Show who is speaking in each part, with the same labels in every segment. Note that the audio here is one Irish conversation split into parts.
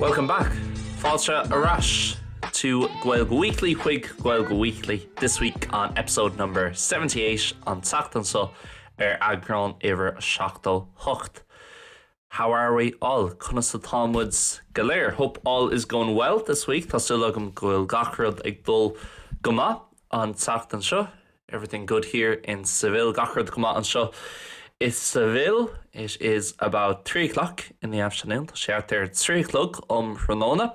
Speaker 1: Welcome back! Fáilte ar ais to Gaeilge Weekly chuig Gaeilge Weekly this week on episode number 78 an tseachtain so ar eagrán uimhir 78. How are we all? Conas atá muid go léir? Hope all is going well this week. Tá súil agam go bhfuil gach rud ag dul go maith an tseachtain seo. Everything good here in Seville. Gach rud go maith anseo i Seville. It is about three o'clock in the afternoon. Tá sé thart ar trí a chlog um thráthnóna.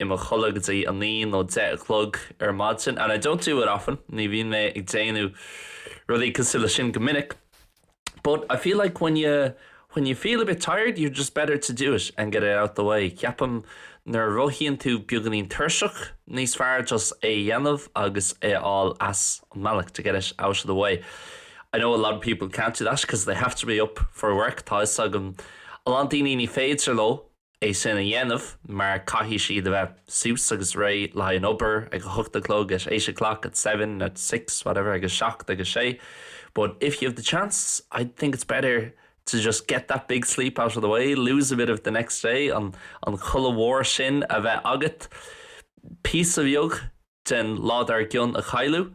Speaker 1: i mo chodladh go dtí a naoi nó deich a chlog ar maidin and I don't do it often ní bhíonn mé ag déanamh rudaí cosúil leis sin go minic but I feel like when you when you feel a bit tired you're just better to do it and get it out the way ceapaim nuair a mhothaíonn tú beagáinín tuirseach níos fearr just é a dhéanamh agus é a fháil as an mbealach to get it out of the way I know a lot of people can't do that because they have to be up for work tá 'fhios agam a lán daoine ní féidir leo é sin a dhéanamh mar caithfidh siad a bheith suas agus réidh le haghaidh na hoibre ag a hocht a chlog at eight o'clock, at seven, at six, whatever, ag a seacht, ag a sé but if you have the chance I'd think it's better to just get that big sleep out of the way, lose a bit of the next day an codladh mhór sin a bheith agat píosa bheag den lá dár gcionn a chailleadh.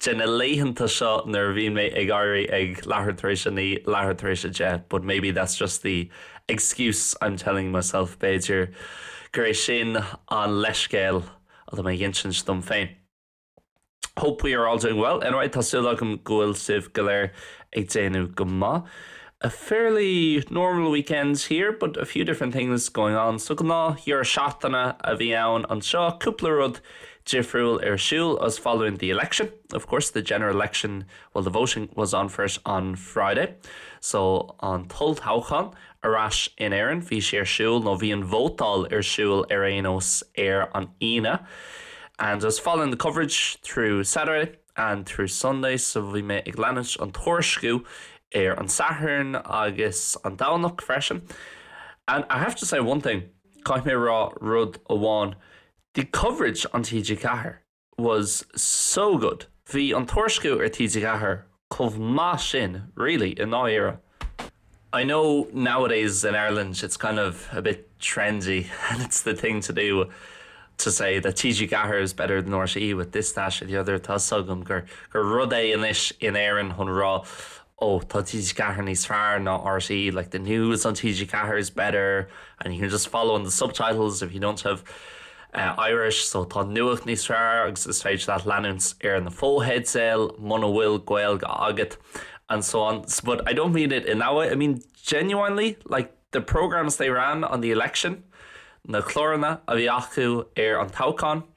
Speaker 1: de na laethanta seo nuair a bhíonn mé ag éirí ag leathuair tar éis a naoi, leathuair tar éis a deich but maybe that's just the excuse I'm telling myself b'fhéidir gur é sin an leithscéal atá mé ag insint dom féin. Hope we are all doing well anyway, tá súil agam go bhfuil sibh go léir ag déanamh go maith. A fairly normal weekend here but a few different things going on so gnáth dheireadh seachtaine a bhí ann anseo, cúpla rud difriúil ar siúl I was following the election, of course, the general election, well, the voting was on for it on Friday, so an t-olltoghchán ar ais in Éirinn, bhí sé ar siúl nó bhí an vótáil ar siúl ar aon nós ar an Aoine and I was following the coverage through Saturday and through Sunday, so bhí mé ag leanúint an tuairisciú ar an Satharn agus an Domhnach freisin and I have to say one thing, caithfidh mé a rá rud amháin, The coverage on TG4 was so good, bhí an tuairisciú ar TG4 chomh maith sin, really, i ndáiríre. I know nowadays in Ireland it's kind of a bit trendy and it's the thing to do to say that TG4 is better than RTE with this, that or the other, tá's agam gur rud é anois in Éirinn chun a rá ó tá TG4 níos fearr ná RTÉ, like the news on TG4 is better and you can just follow on the subtitles if you don't have Irish so tá nuacht níos fearr agus is féidir leat leanúint ar na fotheidil muna bhfuil Gaeilge agat and so on so but I don't mean it in that way I mean genuinely like the programmes they ran on the election na cláranna a bhí acu ar an toghchán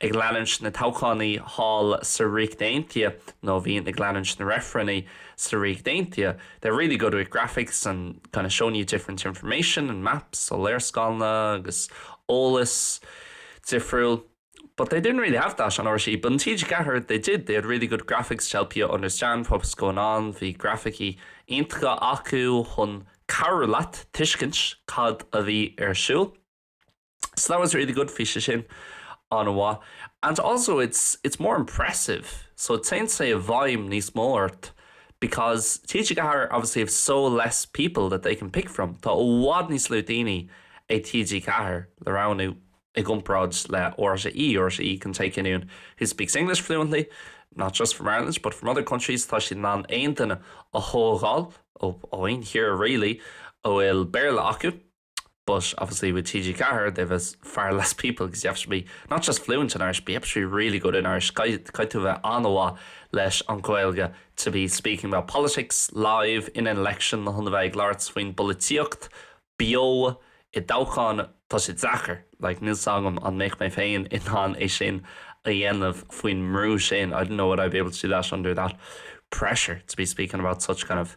Speaker 1: ag leanúint na dtoghchánaí thall sa Ríocht Aontaithe, nó a bhíonn ag leanúint na reifrinní sa Ríocht Aontaithe, they're really good with graphics and kind of showing you different information and maps, so léarscáileanna agus eolas difriúil, but they didn't really have that on RTÉ, but on TG4 they did, they had really good graphics to help you understand what was going on, bhí grafaicí iontacha acu chun cabhrú leat tuiscint cad a bhí ar siúl. So that was really good bhí sé sin an-mhaith. And also it's, it's more impressive, so téann sé i bhfeidhm níos mó ort because TG4 obviously have so less people that they can pick from. Tá i bhfad níos lú daoine ag TG4 le roghnú i gcomparáid le RTÉ. RTÉ can take anyone who speaks English fluently, not just from Ireland but from other countries, tá siad in ann aon duine a thógáil ó aon thír really a bhfuil Béarla acu. But obviously with TG4 they have far less people because you have to be not just fluent in Irish but you have to be really good in Irish. Caithfidh tú a bheith an-mhaith leis an Ghaeilge to be speaking about politics live in an election chun a bheith ag labhairt faoin bpolaitíocht beo i dtoghchán. Tá sé deacair. Like níl a fhios agam an mbeadh mé féin in ann é sin a dhéanamh faoin mbrú sin. I don't know would I be able to do that under that pressure to be speaking about such kind of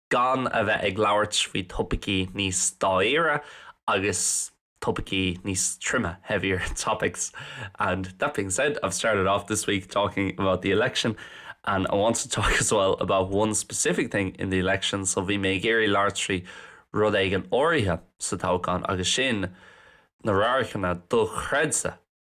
Speaker 1: gan a bheith ag labhairt faoi topaicí níos dáiríre agus topaicí níos troime, heavier topics, and that being said I've started off this week talking about the election and I want to talk as well about one specific thing in the election so bhí mé ag iarraidh labhairt faoi rud éigin áirithe sa toghchán agus sin na radharcanna dochreidte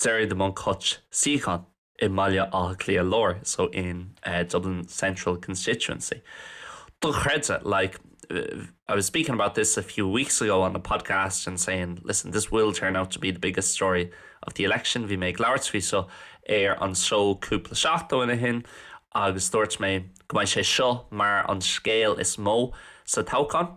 Speaker 1: Gerry the Monk Hutch suíochán i mBaile Átha Cliath Láir, so in Dublin Central Constituency. Dochreidte, like, I was speaking about this a few weeks ago on the podcast and saying, listen, this will turn out to be the biggest story of the election. Bhí mé ag labhairt faoi seo ar an seó cúpla seachtain ó shin agus dúirt mé go mbeidh sé seo mar an scéal is mó sa toghchán.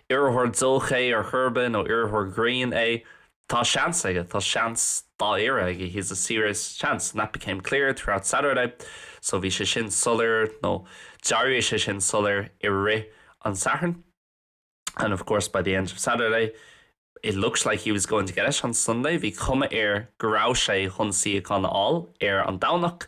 Speaker 1: iarrthóir joke é ar chor ar bith nó iarrthóir grinn é, tá seans aige, tá seans dáiríre aige, he has a serious chance, and that became clear throughout Saturday, so bhí sé sin soiléir nó d'éirigh sé sin soiléir i rith an tSathairn, and of course by the end of Saturday it looked like he was going to get it on Sunday, bhí cuma air go raibh sé chun suíochán a fháil ar an Domhnach.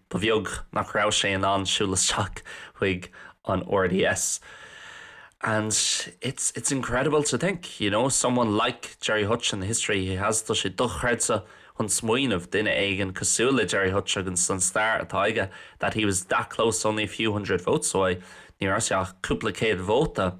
Speaker 1: Ba bheag nach raibh sé in ann siúl isteach chuig an RDS and it's it's incredible to think, you know, someone like Gerry Hutch and the history he has, tá sé dochreidte chun smaoineamh, duine éigin cosúil le Gerry Hutch agus an stair atá aige, that he was that close only a few hundred votes away, ní raibh sé ach cúpla céad vóta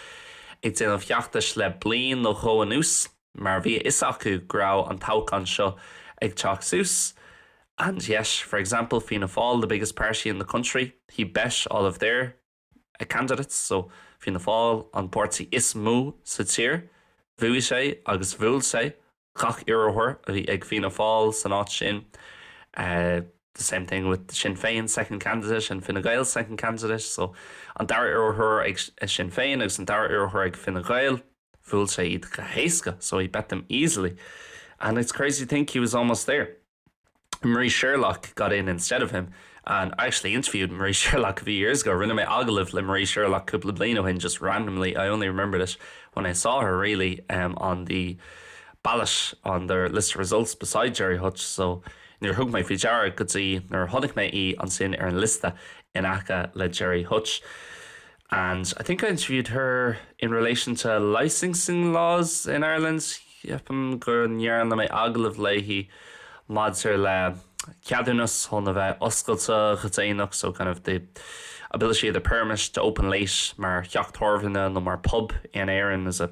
Speaker 1: ag déanamh feachtais le bliain nó dhó anuas mar bhí a fhios acu go raibh an toghchán seo ag teacht suas and yet, for example, Fianna Fáil, the biggest party in the country, he bet all of their candidates so Fianna Fáil, an páirtí is mó sa tír, bhuaigh sé agus bhuail sé Gach iarrthóir a bhí ag Fianna Fáil san áit sin, the same thing with Sinn Féin second candidate and Fine Gael second candidate, so an dara iarrthóir ag Sinn Féin agus an dara iarrthóir ag Fine Gael, bhuail sé iad go héasca, so he bet them easily. And it's crazy to think he was almost there. Marie Sherlock got in instead of him and I actually interviewed Marie Sherlock a few years ago, rinne mé agallamh le Marie Sherlock cúpla bliain ó shin just randomly, I only remembered it when I saw her really um, on the ballot on the list of results beside Gerry Hutch so níor thug mé faoi deara go dtí nuair a chonaic mé í ansin ar an liosta in aice le Gerry Hutch. and I think I interviewed her in relation to licensing laws in Ireland, ceapaim go ndearna mé agallamh léi maidir le ceadúnas chun a bheith oscailte go déanach, so kind of the ability of the permit to open late mar theach tábhairne nó mar phub in Éirinn is a.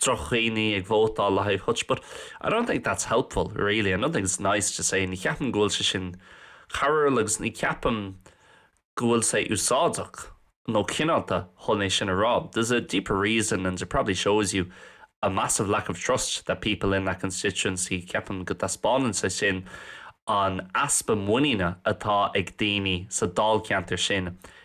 Speaker 1: droch-dhaoine ag vótáil le haghaidh Hutch but I don't think that's helpful really I don't think it's nice to say ní ceapaim go bhfuil sé sin cabhrúil agus ní ceapaim go bhfuil sé úsáideach nó cineálta chun é sin a rá there's a deeper reason and it probably shows you a massive lack of trust that people in that constituency ceapaim go dtaispeánann sé sin an easpa muiníne atá ag daoine sa dáilcheantar sin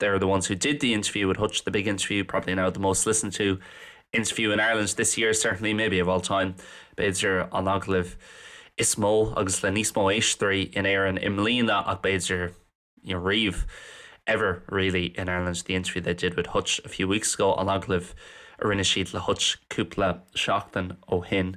Speaker 1: They are the ones who did the interview with Hutch, the big interview, probably now the most listened to interview in Ireland this year, certainly, maybe of all time, b'fhéidir an agallamh is mó agus le níos mó éisteoirí in Éirinn i mbliana ach b'fhéidir riamh, ever really in Ireland, the interview they did with Hutch a few weeks ago, an agallamh a rinne siad le Hutch cúpla seachtain ó shin.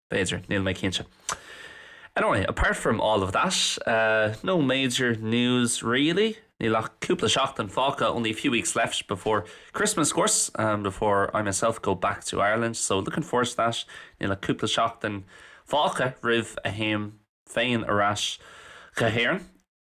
Speaker 1: B'fhéidir, níl mé cinnte. Anyway, apart from all of that, no major news really. Níl ach cúpla seachtain fágtha, only a few weeks left before Christmas of course, before I myself go back to Ireland, so looking forward to that. Níl ach cúpla seachtain fágtha roimh a théim féin ar ais go hÉirinn.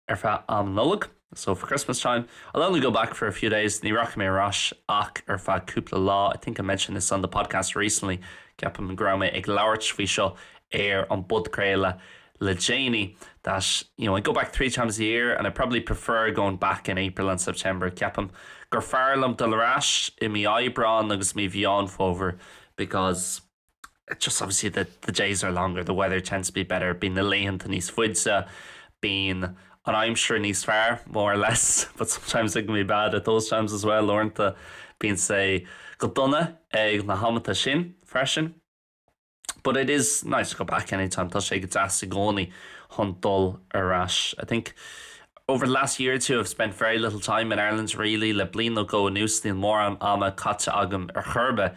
Speaker 1: ar feadh am Nollag, so for Christmas time, I'll only go back for a few days, ní rachaidh mé ar ais ach ar feadh cúpla lá, I think I mentioned this on the podcast recently, ceapaim go raibh mé ag labhairt faoi seo ar an bpodchraoladh le déanaí, that, you know, I go back three times a year and I probably prefer going back in April and September, ceapaim gur fearr liom dul ar ais i mí Aibreáin agus mí Mheán Fómhair because. it's just obviously that the days are longer, the weather tends to be better, bíonn na laethanta níos faide, bíonn an aimsir níos fearr, more or less, but sometimes it can be bad at those times as well, uaireanta bíonn sé go dona ag na hamanta sin freisin. But it is nice to go back anytime, tá sé go deas i gcónaí chun dul ar ais. I think over the last year or two I've spent very little time in Ireland really, le bliain nó dhó anuas níl mórán ama caite agam ar chor ar bith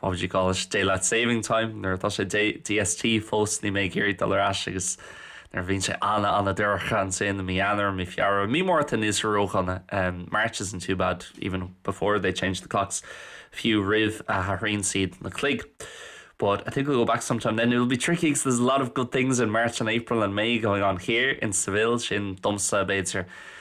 Speaker 1: what would you call it, Daylight Saving Time, nuair atá sé DST, fós, níl mé ag iarraidh dul ar ais agus nuair a bhíonn sé ana ana dorcha ansin i mí Eanáir, mí Feabhra, mí Márta níl sé ródhona, um, March isn't too bad even before they change the clocks, fiú roimh a athraíonn siad na cloig. But I think we'll go back sometime then. It'll be tricky because there's a lot of good things in March and April and May going on here in Seville domsa, b'fhéidir,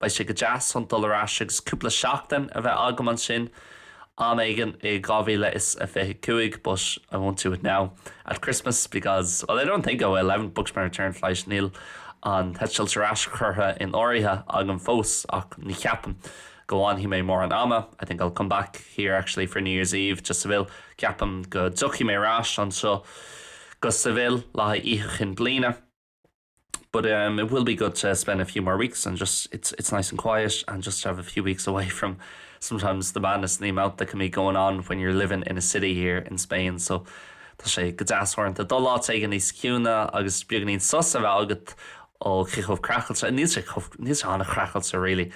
Speaker 1: Beidh sé go deas chun dul ar ais agus cúpla seachtain a bheith agam ansin am éigin i 2025 but I won't do it now at Christmas because, well, I don't think I will, I haven't booked my return flight, níl an t-eitilt ar ais curtha in áirithe agam fós ach ní cheapaim go bhfanfaidh mé mórán ama, I think I'll come back here actually for New Year's Eve to Seville, ceapaim go dtiocfaidh mé ar ais anseo go Seville, le hOíche Chinn Bliana. But um it will be good to spend a few more weeks and just it's it's nice and quiet and just have a few weeks away from sometimes the madness and the amount that can be going on when you're living in a city here in Spain so tá sé go deas uaireanta dul áit éigin níos ciúine agus is beagáinín sos a bheith agat ó chith chomh creachailte níl sé chomh níl sé an-chreachailte really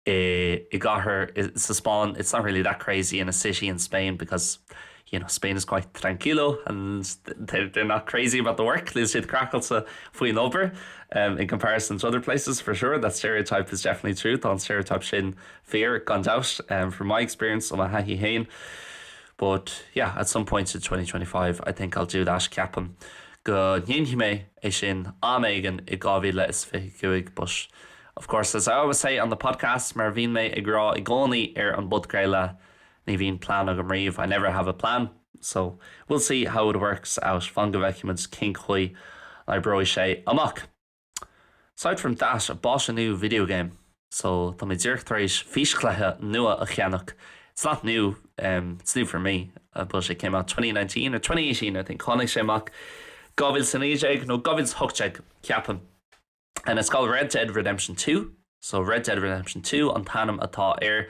Speaker 1: i gcathair sa Spáinn it's not really that crazy in a city in Spain because you know Spain is quite tranquilo and they're not crazy about the work níl siad craiceáilte faoin obair in comparison to other places for sure that stereotype is definitely true tá an stereotype sin fíor gan dabht from my experience ó mo thaithí féin but yeah at some point in 2025 I think I'll do that ceapaim go ndéanfaidh mé é sin am éigin i 2025 but Of course, as I always say on the podcast, mar a bhíonn mé ag rá i gcónaí ar an bpodchraoladh, ní bhíonn plean agam riamh, I never have a plan. So, we'll see how it works out, fan go bhfeicfimid cén chaoi a oibreoidh sé amach. Aside from that, I bought a new video game, so tá mé díreach tar éis físchluiche nua a cheannach, it's not new, em, it's new for me, but it came out twenty nineteen or twenty eighteen, I think, tháinig sé amach dhá mhíle is a naoi déag nó dhá mhíle is a hocht déag, ceapaim. And it's called Red Dead Redemption Two, so Red Dead Redemption Two an t-ainm atá air.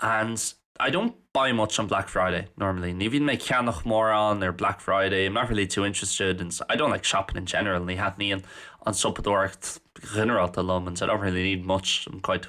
Speaker 1: And I don't buy much on Black Friday normally. Ní bhíonn mé ceannach mórán ar Black Friday, I'm not really too interested and I don't like shopping in general, ní thaitníonn an siopadóireacht ghinearálta liom and I don't really need much, I'm quite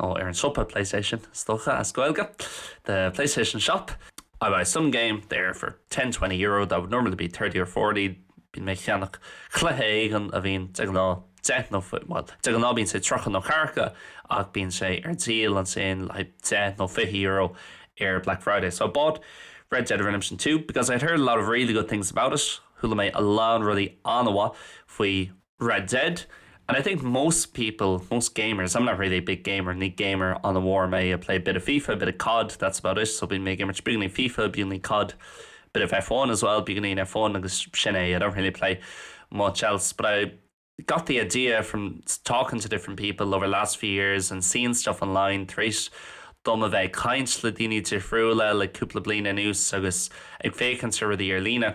Speaker 1: nó ar an Siopa Playstation, is dócha, as Gaeilge, the Playstation Shop, I buy some game there for ten, twenty euro that would normally be thirty or forty bíonn mé ag ceannach cluiche éigin a bhíonn de ghnáth deich nó, bhuel, de ghnáth bíonn sé tríocha nó ceathracha, ach bíonn sé ar díol ansin like deich nó fiche euro ar Black Friday so I bought Red Dead Redemption 2 because I'd heard a lot of really good things about it chuala mé a lán rudaí an-mhaith faoi Red Dead and I think most people, most gamers, I'm not really a big gamer, ní gamer an-mhór mé, I play a bit of FIFA, a bit of COD, that's about it, so bíonn mé ag imirt beagáinín FIFA, beagáinín COD, a bit of F1 as well, beagáinín F1 agus sin é, I don't really play much else, but I got the idea from talking to different people over the last few years and seeing stuff online tar éis dom a bheith ag caint le daoine difriúla le cúpla bliain anuas agus ag féachaint ar rudaí ar líne.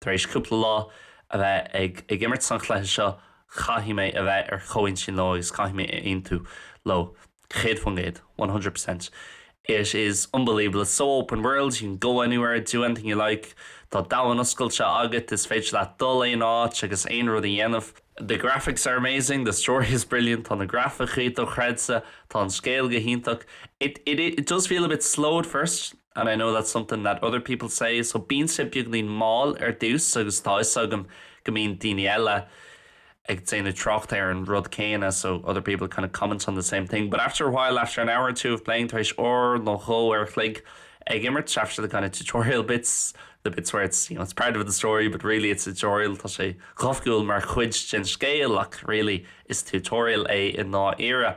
Speaker 1: Tar éis cúpla lá a bheith ag imirt an chluiche seo, caithfidh mé a bheith ar chomhintinn leo agus caithfidh mé a aontú leo, céad faoin gcéad, one hundred percent. It is unbelievable, it's so open world, you can go anywhere, do anything you like, tá domhan oscailte agat, is féidir leat dul aon áit agus aon rud a dhéanamh. The graphics are amazing, the story is brilliant, tá na grafaicí dochreidte, tá an scéal go hiontach. It, it, it does feel a bit slow at first, and I know that's something that other people say so bíonn sé beagainín mall ar dtús agus tá 'fhios agam go mbíonn daoine eile ag déanamh trácht ar an rud céanna so other people kind of comment on the same thing but after a while, after an hour or two of playing, tar éis uair nó dhó a chloig ag imirt after the kind of tutorial bits, the bits where it's, you know, it's part of the story but really it's a tutorial tá sé go hoifigiúil mar chuid den scéal ach really is tutorial é i ndáiríre.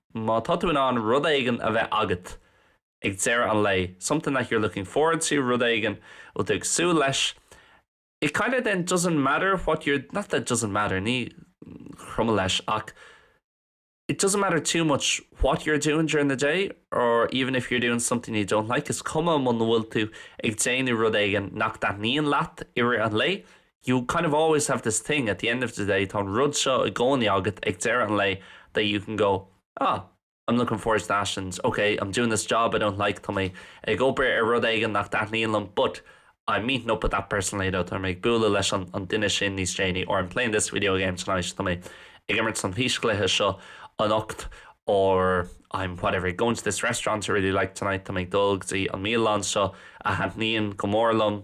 Speaker 1: Má tá tú in ann rud éigin a bheith agat ag deireadh an lae, something that you're looking forward to, rud éigin a bhfuil tú ag súil leis, it kind of then doesn't matter what you're, not that it doesn't matter, ní cuma leis ach it doesn't matter too much what you're doing during the day or even if you're doing something you don't like, is cuma muna bhfuil tú ag déanamh rud éigin nach dtaitníonn leat i rith an lae, you kind of always have this thing at the end of the day tá an rud seo i gcónaí agat ag deireadh an lae that you can go ah I'm looking forward to that and ok I'm doing this job I don't like tá mé ag obair ar rud éigin nach dtaitníonn liom but I'm meeting up with that person later tá mé ag bualadh leis an duine sin níos déanaí or I'm playing this video game tonight tá mé ag imirt an fhíschluiche seo anocht or I'm whatever going to this restaurant I really like tonight tá mé ag dul go dtí an mbialann seo a thaitníonn go mór liom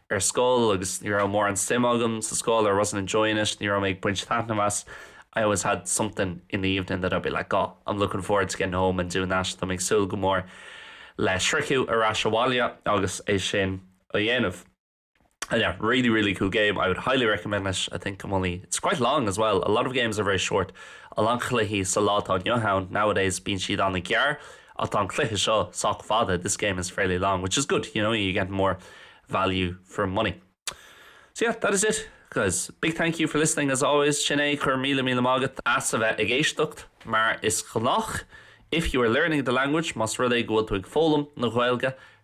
Speaker 1: ar scoil agus ní raibh mórán suim agam sa scoil or wasn't enjoying it, ní raibh mé ag baint taitneamh as, I always had something in the evening that I'd be like oh, I'm looking forward to getting home and doing that, tá mé ag súil go mór le sroicheadh ar ais abhaile agus é sin a dhéanamh. And yeah, really really cool game, I would highly recommend it, I think I'm only, it's quite long as well, a lot of games are very short, a lán chluichí sa lá atá inniu ann, nowadays bíonn siad an-ghearr, Ach tá an cluiche seo sách fada, this game is fairly long, which is good, you know, you get more value for money. So yeah, that is it, guys. Big thank you for listening as always. Sin é, go raibh míle míle maith agat as a bheith ag éisteacht mar is gnách. If you are learning the language, más rud é go bhfuil tú ag foghlaim na Gaeilge,